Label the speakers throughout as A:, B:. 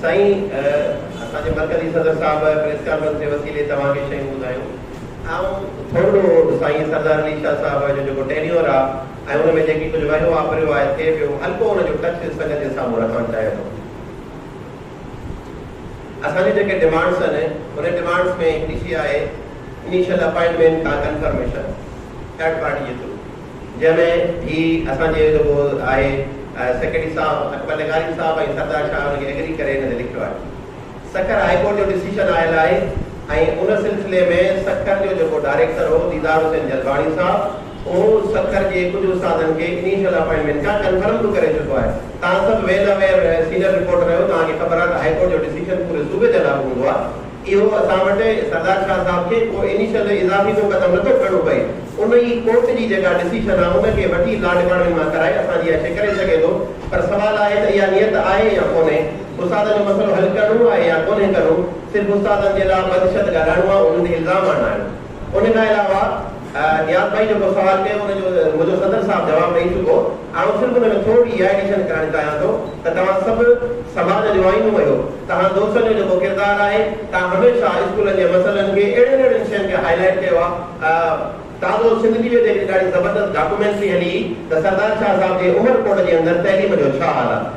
A: سائين اسان جي مرڪزي صدر صاحب پريس ڪانفرنس جي وسيلي توهان کي شيون ٻڌايون آئون ٿورڙو سائين سردار علي شاھ صاحب جو جيڪو ٽينيور آ ۽ ان ۾ جيڪي ڪجھ وهيو واپريو آهي ٿئي پيو هلڪو ان جو ٽچ سنگت جي سامهون رکڻ چاهيان ٿو اسان جون جيڪي ڊمانڊس آهن ان ڊمانڊس ۾ هڪڙي شي آهي انيشل اپائنٽمينٽ کان ڪنفرميشن ٿرڊ پارٽي جي ٿرو جنهن ۾ هي اسان جي جيڪو آهي سيڪريٽري صاحب اڪبر لغاري صاحب ۽ سردار شاهه ان کي ايگري ڪري هن تي لکيو آهي. سکر هاء ڪورٽ جو ڊسيشن آيل آهي ۽ ان سلسلي ۾ سکر جو جيڪو ڊائريڪٽر هو ديدار حسين جلباڻي صاحب اهو سکر جي ڪجهه استادن کي انيشل اپائنٽمينٽ کان ڪنفرم به ڪري چڪو آهي. توهان سڀ ويل اويئر سينئر رپورٽر آهيو توهان کي خبر آهي ته هاء ڪورٽ جو ڊسيشن پوري صوبي جي لاڳو هوندو آهي. اهو اسان وٽ سردار شاهه صاحب کي ڪو انيشل اضافي ڪو قدم نه ٿو کڻڻو پئي. ان ئي ڪورٽ جي جيڪا ڊسيشن آ ان کي وٺي لا ڊپارٽمينٽ مان ڪرائي اسان جي اچي ڪري سگهي ٿو پر سوال آهي ته اها نيت آهي يا ڪونهي استادن جو مسئلو حل ڪرڻو آهي يا ڪونهي ڪرڻو صرف استادن جي لا بدشت ڳالهائڻو آ انهن تي الزام آڻڻا آهن. ان کان علاوه نياز ڀائي جيڪو سوال ڪيو ان جو منهنجو صدر صاحب جواب ڏئي چڪو. آئون صرف ان ۾ ٿورڙي اها ايڊيشن ڪرڻ چاهيان ٿو ته توهان سڀ سماج جو آئينو اهيو، توهان دوستن جو جيڪو ڪردار آهي توهان هميشه اسڪولن جي مسئلن کي اهڙين اهڙين شين کي هائي لائيٽ ڪيو آهي. تازو سنڌ ٽي ويء تي هڪڙي ڏاڍي زبردست ڊاڪومينٽري هلي هئي ته سردار شاهه صاحب جي عمر ڪوٽ جي اندر تعليم جو ڇا حال آهي.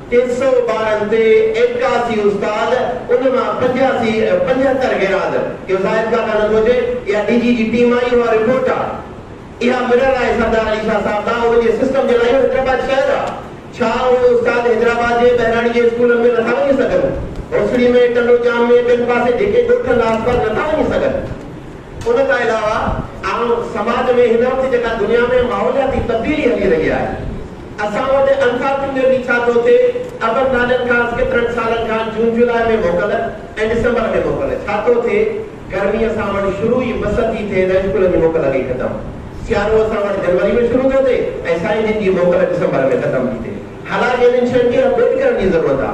A: ٽي سؤ ٻارن تي ايڪاسي استاد ان مان پنجاسي پنجهتر غيرحاضر اهو زاهد ڪاڪا نٿو هجي اها ڊي جي جي ٽيم آئي اها رپورٽ آ اها مرر آهي سردار علي شاهه صاحب ڏانهن ان جي سسٽم جي لاء اهو حيدرآباد شهر آ ڇا اهي استاد حيدرآباد جي ٻهراڙي جي اسڪولن ۾ نٿا وڃي سگهن هوسڙي ۾ ٽنڊو ڄام ۾ ٻين پاسي جيڪي ڳوٺ هندا آس پاس نٿا وڃي سگهن. ان کان علاوه عام سماج ۾ هن وقت جيڪا دنيا ۾ ماحولياتي تبديلي هلي رهي آهي. اسان وٽ الفا فنگر جي ڇا ٿو ٿئي ابن نالين خاص ڪيترن سالن کان جون جولاء ۾ موڪل ۽ ڊسمبر ۾ موڪل ڇا ٿو ٿئي گرمي اسان وٽ شروع ئي مس ٿي ٿئي ته اسڪولن جي موڪل اڳي ختم سيارو اسان وٽ جنوري ۾ شروع ٿو ٿئي ۽ سائين جن جي موڪل ڊسمبر ۾ ختم ٿي ٿئي حالانڪ انهن شين کي اپڊيٽ ڪرڻ جي ضرورت آ.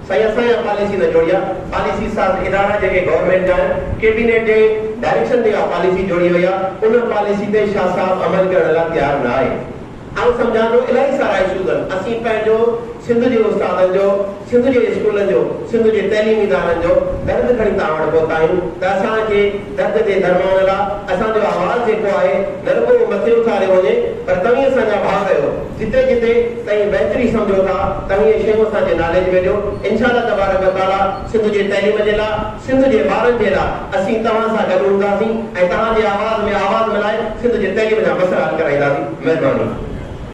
A: سائين اسان اها پاليسي نه جوڙي آ، پاليسي ساز ادارا جيڪي گورنمينٽ جا آهن، ڪيبينيٽ جي ڊائريڪشن تي اها پاليسي جوڙي وئي آ، ان پاليسي تي شاهه صاحب عمل ڪرڻ لا تيار نه آهي. آئون سمجهان ٿو الائي سارا ايشوز آهن، اسين پنهنجو سنڌ جي استادن جو، سنڌ جي اسڪولن جو، سنڌ جي تعليمي ادارن جو درد کڻي توهان وٽ پهتا آهيون ته اسان کي. درد جي درمان لا اسان جو آواز جيڪو آهي نه رڳو مٿي اٿاريو وڃي پر توهين اسان جا ڀاء رهيو جتي جتي توهين بهتري سمجهو ٿا توهين اهي شيون اسان جي ناليج ۾ ڏيو انشاء الله تبارڪ و تعالي سنڌ جي تعليم جي لا سنڌ جي ٻارن جي لا اسين توهان سان گڏ هونداسين ۽ توهان جي آواز ۾ آواز ملائي سنڌ جي تعليم جا مسئلا حل ڪرائينداسين مهرباني.